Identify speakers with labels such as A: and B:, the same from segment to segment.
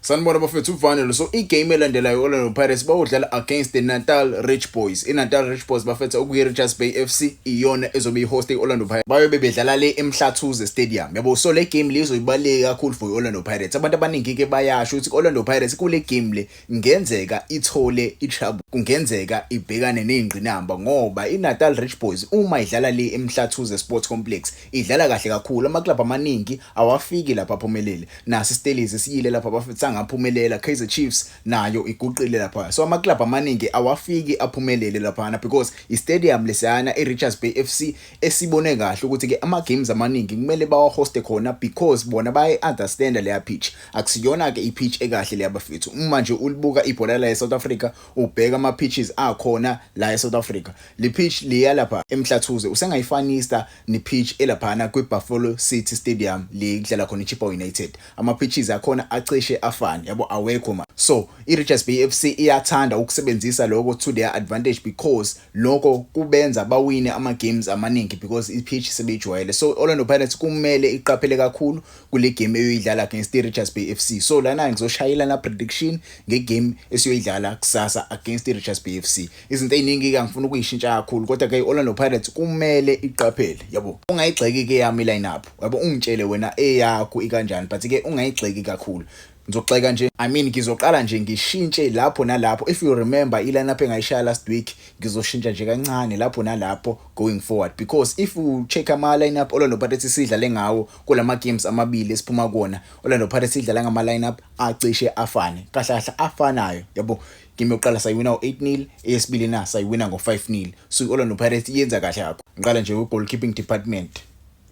A: Sanibona bafethu uVanelo so igame elandelayo Orlando Pirates bawudlala against the Natal Rich Boys. INatal Rich Boys bafetha okuyi Richards Bay FC iyona ezobe ihost iOrlando Pirates. Bayobe bedlala le eMhlathuze Stadium. Yabo so le game lezo ibaleke kakhulu for iOrlando Pirates. Abantu abaningi ke bayasho ukuthi iOrlando Pirates kule game le ngenzeka ithole ichabu. Kungenzeka ibhekane nezingqinamba ngoba iNatal Rich Boys uma idlala le eMhlathuze Sports Complex Idlala kahle kakhulu, amaklabhu amaningi awafiki lapha aphumelele. Nasi iStellies siyile lapha bafethu sangaphumelela, Kaizer Chiefs nayo iguqile lapha. So amaklabhu amaningi awafiki aphumelele laphana because istadium lesiyana iRichards Bay FC esibone kahle ukuthi ke ama games amaningi kumele bawahoste khona because bona baye understand leya pitch. Akusiyona ke ipitch ekahle leya bafethu. Uma nje ulibuka ibhola la eSouth Africa ubheka ama pitches akhona la eSouth Africa le pitch liya lapha eMhlathuze usengayifanisa ne pitch elaphana kwi Buffalo City Stadium le kudlala khona iChippa United ama pitches akhona acishe afane yabo awekho ma so iRichards Bay FC iyathanda ukusebenzisa lokho to their advantage because lokho kubenza bawine ama games amaningi because i pitch sebeyijwayele so Orlando Pirates kumele iqaphele kakhulu kule game eyoyidlala against i-Richards Bay FC so lana ngizoshayela na prediction ngegame esiyoyidlala kusasa against i-Richards Bay FC izinto eziningi ke angifuni ukuyishintsha kakhulu kodwa ke i-Orlando Pirates kumele iqaphele yabo ungayigxeki ke yami line-up yabo ungitshele wena eyakho ikanjani but ke ungayigxeki kakhulu Ngizogxeka nje. I mean ngizoqala nje ngishintshe lapho nalapho. If you remember i-lineup engayishaya last week ngizoshintsha nje kancane lapho nalapho going forward because if u check ama lineup Orlando Pirates sidlale ngawo kulama games amabili esiphuma kuona Orlando Pirates idlala ngama lineup acishe afane. Kahle kahle afanayo. Yabo game yokuqala sayiwina ngo-8-0 eyesibili na sayiwina ngo-5-0 so i-orlando pirates yenza kahle yakho ngiqala nje kwi-goalkeeping department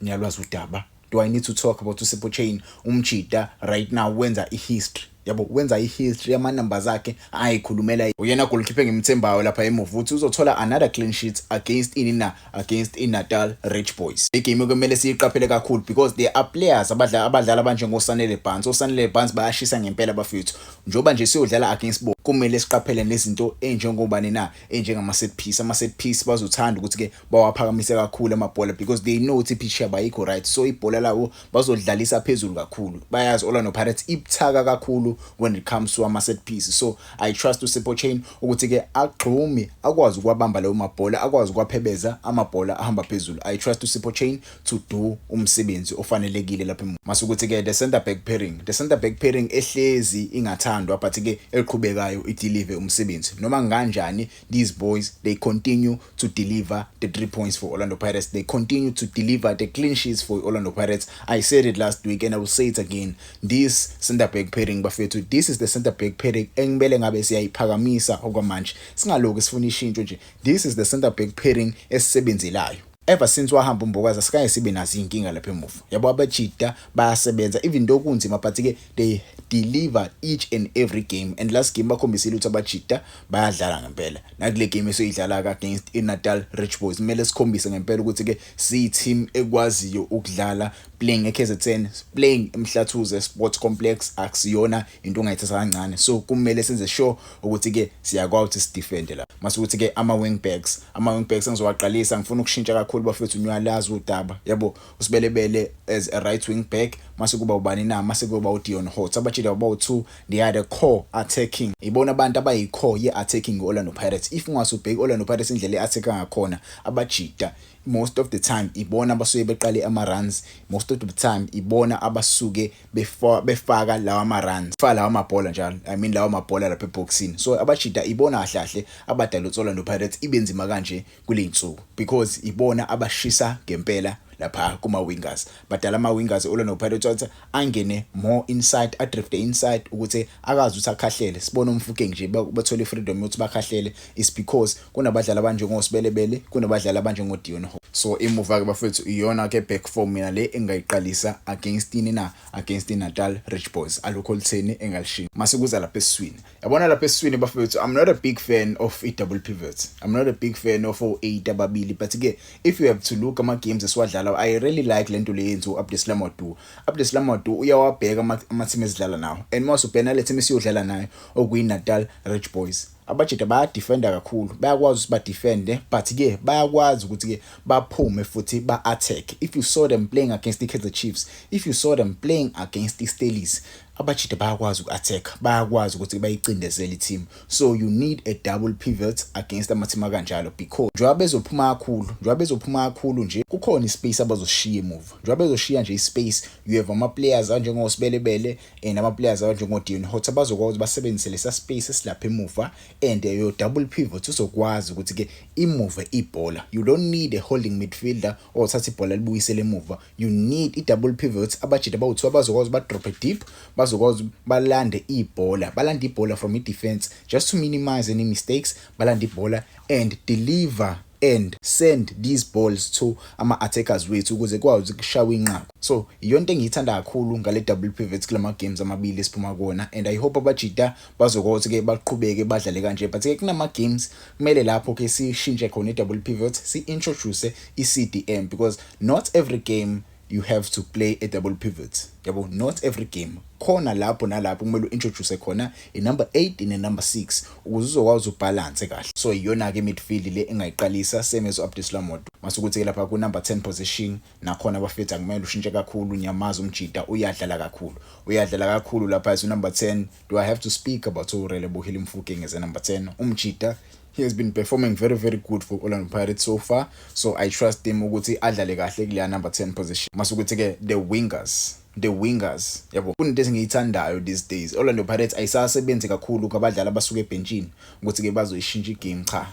A: ngiyalwazi udaba do i need to talk about usipho chain umjita right now wenza ihistory yabo wenza ihistory yama-numbers akhe ayikhulumela uyena golkipe ngimthembayo lapha emuva ukuthi uzothola another clean sheet against ini na against inatal rich boys igame kumele siyiqaphele kakhulu because there are players abadlala abadlala abanjengosanele bans osanele bans bayashisa ngempela bafethu njengoba nje siyodlala against bo kumele siqaphele nezinto enjengobani na enjengama set piece ama set piece bazothanda ukuthi ke bawaphakamise kakhulu amabhola because they know ukuthi pitch yabo ayikho right so ibhola lawo bazodlalisa phezulu kakhulu bayazi Orlando Pirates ibuthaka kakhulu when it comes to ama set piece so i trust to Sipho Chain ukuthi ke agxumi akwazi ukwabamba lawo mabhola akwazi ukwaphebeza amabhola ahamba phezulu i trust to Sipho Chain to do umsebenzi ofanelekile lapha mase ukuthi ke the center back pairing the center back pairing ehlezi ingathandwa but ke eliqhubekayo idelive umsebenzi noma kanjani these boys they continue to deliver the 3 points for Orlando Pirates they continue to deliver the clean sheets for Orlando Pirates i said it last week and i will say it again this center back pairing bafethu this is the center back pairing engibele ngabe siyayiphakamisa okwamanje singaloku sifuna ishintsho nje this is the center back pairing esisebenzelayo Ever since wahamba uMbokazi asikaye sibe nazo izinkinga lapha emuva. Yabo abajita bayasebenza even though kunzima but ke they deliver each and every game and last game bakhombisile ukuthi abajita bayadlala ngempela. Nakule game esoyidlala against iNatal Rich Boys kumele sikhombise ngempela ukuthi ke siyi team ekwaziyo ukudlala playing eKZN, playing eMhlathuze Sports Complex akusiyona into ongayithatha kancane. So kumele senze sure ukuthi ke siyakwazi ukuthi sidefende la mase ukuthi ke ama wing backs ama wing backs engizowaqalisa ngifuna ukushintsha kakhulu bafethu niyalazi udaba yabo usibelebele as a right wing back mase kuba ubani na mase kuba uDion Hot abajile baba u2 they are the core attacking ibona abantu abayi core ye attacking Orlando Pirates if ungase ubheke Orlando Pirates indlela eattack ngakhona abajita most of the time ibona abasuke beqale ama runs most of the time ibona abasuke before befaka lawa ma runs fa lawa mabhola njalo i mean lawa mabhola lapha eboxini so abajita ibona kahle kahle abadala utsola no Pirates ibenzima kanje kuleyinsuku because ibona abashisa ngempela lapha kuma wingers badala ama wingers olona no Pirates wathi angene more inside a drift inside ukuthi akazi ukuthi akhahlele sibona umfukeng nje bathole freedom yokuthi bakhahlele is because kunabadlali abanjengosibelebele kunabadlali abanjengodion ho so imuva ke bafethu iyona ke back form mina le engayiqalisa against ini na against inatal rich boys alukho lutheni engalishinga mase kuza lapha esiswini yabona lapha esiswini bafethu i'm not a big fan of i-double pivots i'm not a big fan of o-eight ababili but ke if you have to look ama-games esiwadlala i really like le nto le yenziwa u-abdeslam wadu abdeslam wadu uyawabheka ama-team esidlala nawo and mase ubhena le team esiyodlala nayo okuyinatal rich boys abajita bayadefenda kakhulu bayakwazi ukuthi badefende but ke bayakwazi ukuthi ke baphume futhi ba-attack if you saw them playing against i-kaizer chiefs if you saw them playing against i-stelis abajita bayakwazi uku-attack bayakwazi ukuthi bayicindezele i-team so you need a double pivot against ama-team akanjalo because njengoba bezophuma kakhulu njengoba bezophuma kakhulu nje kukhona i-space abazoshiya emuva njengoba bezoshiya nje i-space you have ama-players anjengosibelebele and ama-players abanjengodeon hotsa bazokwazi ukuthi basebenzise lesa space esilapha emuva and eh, your double pivot uzokwazi ukuthi-ke imuve ibhola you don't need a holding midfielder othatha ibhola libuyisele emuva you need i-double pivot abajita abawuthiwa bazokwazi badrophe deep bazokwazi balande ibhola balande ibhola from i-defense just to minimize any mistakes balande ibhola and deliver and send these balls to ama attackers wethu ukuze kwazi kushawa inqaku so iyonto engiyithanda kakhulu ngale double pivots kulama games amabili esiphuma kuona and i hope abajita bazokothi ke baqhubeke badlale kanje but ke kunama games kumele lapho ke sishintshe khona i double pivot si introduce i CDM because not every game you have to play a double pivot yabo not every game khona lapho nalapho kumele uintroduce khona i number 8 ne number 6 ukuze uzokwazi ubalance kahle so iyona ke midfield le engayiqalisa same as Abdislam Modo masukuthi ke lapha ku number 10 position nakhona abafethu akumele ushintshe kakhulu nyamaza umjita uyadlala kakhulu uyadlala kakhulu lapha as number 10 Do I have to speak about Relebohile Mofokeng as a number 10? Umjita he has been performing very very good for Orlando Pirates so far so I trust him ukuthi adlale kahle kuleya number 10 position masukuthi ke the wingers the wingers yabo kunento esingiyithandayo these days Orlando Pirates ayisasebenzi kakhulu kwabadlali abasuke ebhentshini ukuthi ke bazoyishintsha igame cha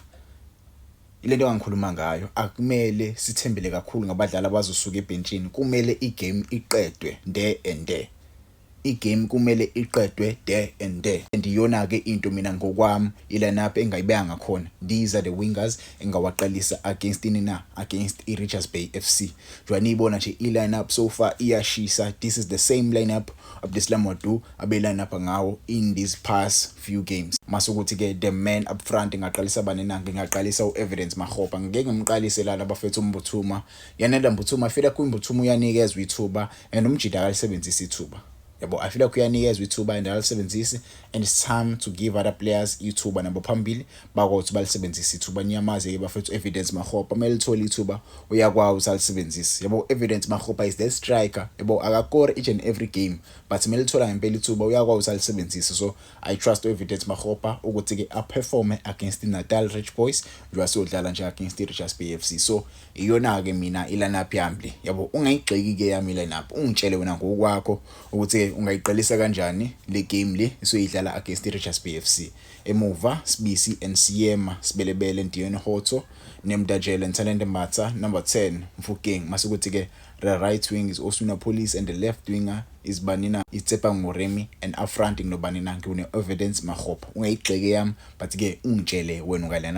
A: ilento engangikhuluma ngayo akumele sithembele kakhulu ngabadlali abazosuka ebhentshini kumele igame iqedwe there and there I game kumele iqedwe there and there and iyona ke into mina ngokwami i lineup engayibeka ngakhona these are the wingers engawaqalisa against ini na against i Richards Bay FC njengoba niyibona nje i lineup so far iyashisa this is the same lineup Abdeslam Wadu abe lineup ngawo in these past few games masukuthi ke the man up front ngaqalisa bani na ngingaqalisa u Evidence Mahopa ngeke ngimqalise lana bafethu umbuthuma yanela mbuthuma fela ku mbuthuma uyanikezwa ithuba and umjita akalisebenzisi ithuba yabo i feel like uyanikezwa ithuba and akalisebenzisi and it's time to give other players ithuba nabo phambili bakothi balisebenzise ithuba niyamazi ke bafethu evidence mahopa mele lithole ithuba uyakwazi ukuthi alisebenzise yabo evidence mahopa is the striker yabo akakore each and every game but mele lithola ngempela ithuba uyakwazi ukuthi alisebenzise so I trust u-Evidence Makgopa ukuthi-ke aperforme against i-Natal Rich Boys njengoba siyodlala nje against i-Richards Bay FC so iyona-ke mina i-lineup yami le yabo ungayigxeki-ke yami i-lineup ungitshele wena ngokwakho ukuthi-ke ungayiqalisa kanjani le game le esoyidlala against i-Richards Bay FC emuva Sibisi and Siyema Sibelebele Ndiyeni Hotso Nemdajele Ntalente Matsa number 10 Mfukeng mase kuthi-ke The right wing is Oswina Police and the left winger is Banina Itsepang Moremi and up front nginobanina ngiwune-evidence Makgopa. Ungayigxeki eyami but-ke ungitshele wena ungalana.